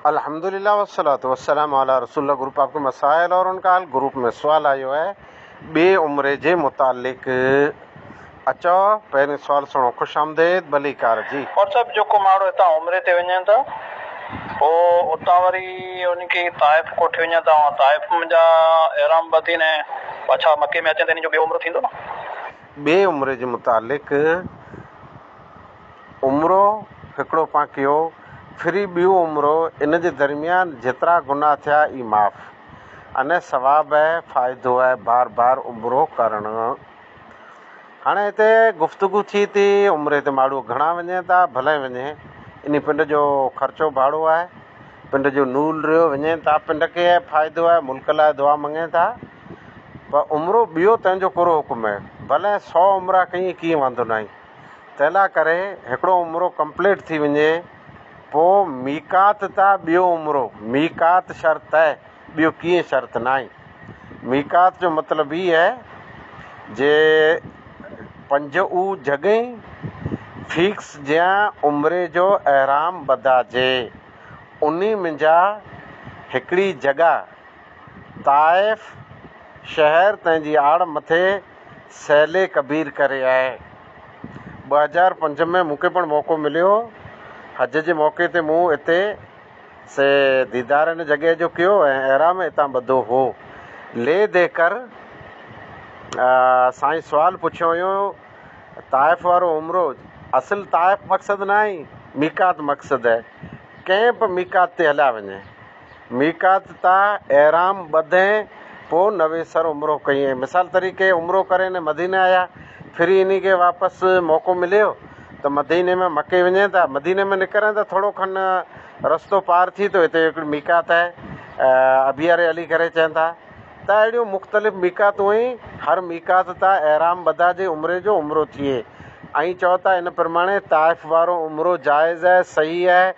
الحمدللہ والصلوۃ والسلام علی رسول اللہ گروپ آپ کے مسائل اور ان کا حل گروپ ۾ سوال آيو آهي ٻي عمري جي متعلق اچو پهرين سوال سڻو خوش آمديد ڀليڪار جي. مون صاحب جيڪو ماڻهو هتان عمري تي وڃن ٿا پوء اتان وري انهن کي طائف ڪوٺي وڃن ٿا اوهان طائف جا احرام ٻڌين ۽ پڇا مڪي ۾ اچن ته انهن جو ٻيو عمرو ٿيندو نه. ٻي عمري جي متعلق. عمرو هڪڙو پان ڪيو، ڦري ٻيو عمرو، ان جي درميان جيترا گناهه ٿيا اي معاف. انهي ثواب اي فائدو اي بار بار عمرو ڪرڻ. هاڻي هتي گفتگو ٿي تي عمري تي ماڙهو گهڻا وڃين ٿا ڀلئين وڃين. انهي پنڊ جو خرچو ڀاڙو آهي. پنڊ جو نول ريو وڃين ٿا پنڊ کي اي فائدو اي ملڪ لاء دعا مڱين ٿا. پر عمرو ٻيو تنهن جو ڪهڙو حڪم اي. ڀلئين سو عمرا ڪيئين ڪيئين واندو ناهي. تنھنلا ڪري ھڪڙو عمرو ڪمپليٽ ٿي وڃي پو ميقات تا ٻيو عمرو ميقات شرط اھي ٻيو ڪيئي شرط ناھي ميقات جو مطلب ھي اھي جي پنج او جڳھي فيڪس جيان عمري جو احرام ٻڌا جي انھي منجا ھڪڙي جڳھه طائف شھر تنھنجي آڙ مٿي سهيلي ڪبير ڪري آهي. ٻه هزار پنج ۾ مون کي پڻ موقعو مليو هو. حج جي موقعي تي مون اتي سي ديدار ان جڳهه جو ڪيو ۽ احرام اتان ٻڌو هو. لي دي ڪر سائين سوال پڇيو هيون طائف وارو عمرو اصل طائف مقصد ناهي ميقات مقصد هي. ڪنهن به ميقات تي هليا وڃي. ميقات تاء احرام ٻڌين پوء نويسر عمرو ڪيئين مثال طريقي عمرو ڪري ني مديني آيا ڦري انهي کي واپس موقعو مليو ته مديني ۾ مڪي وڃين ٿا مديني ۾ نڪرين ته ٿورو کن رستو پار ٿي ته اتي هڪڙي ميقات آهي ابيار علي ڪري چين ٿا ته اهڙيون مختلف ميقاتون ۽ هر ميقات تاء احرام ٻڌا جي عمري جو عمرو ٿئي ائين چئو ٿا ان پرماڻي طائف وارو عمرو جائز آهي صحيح آهي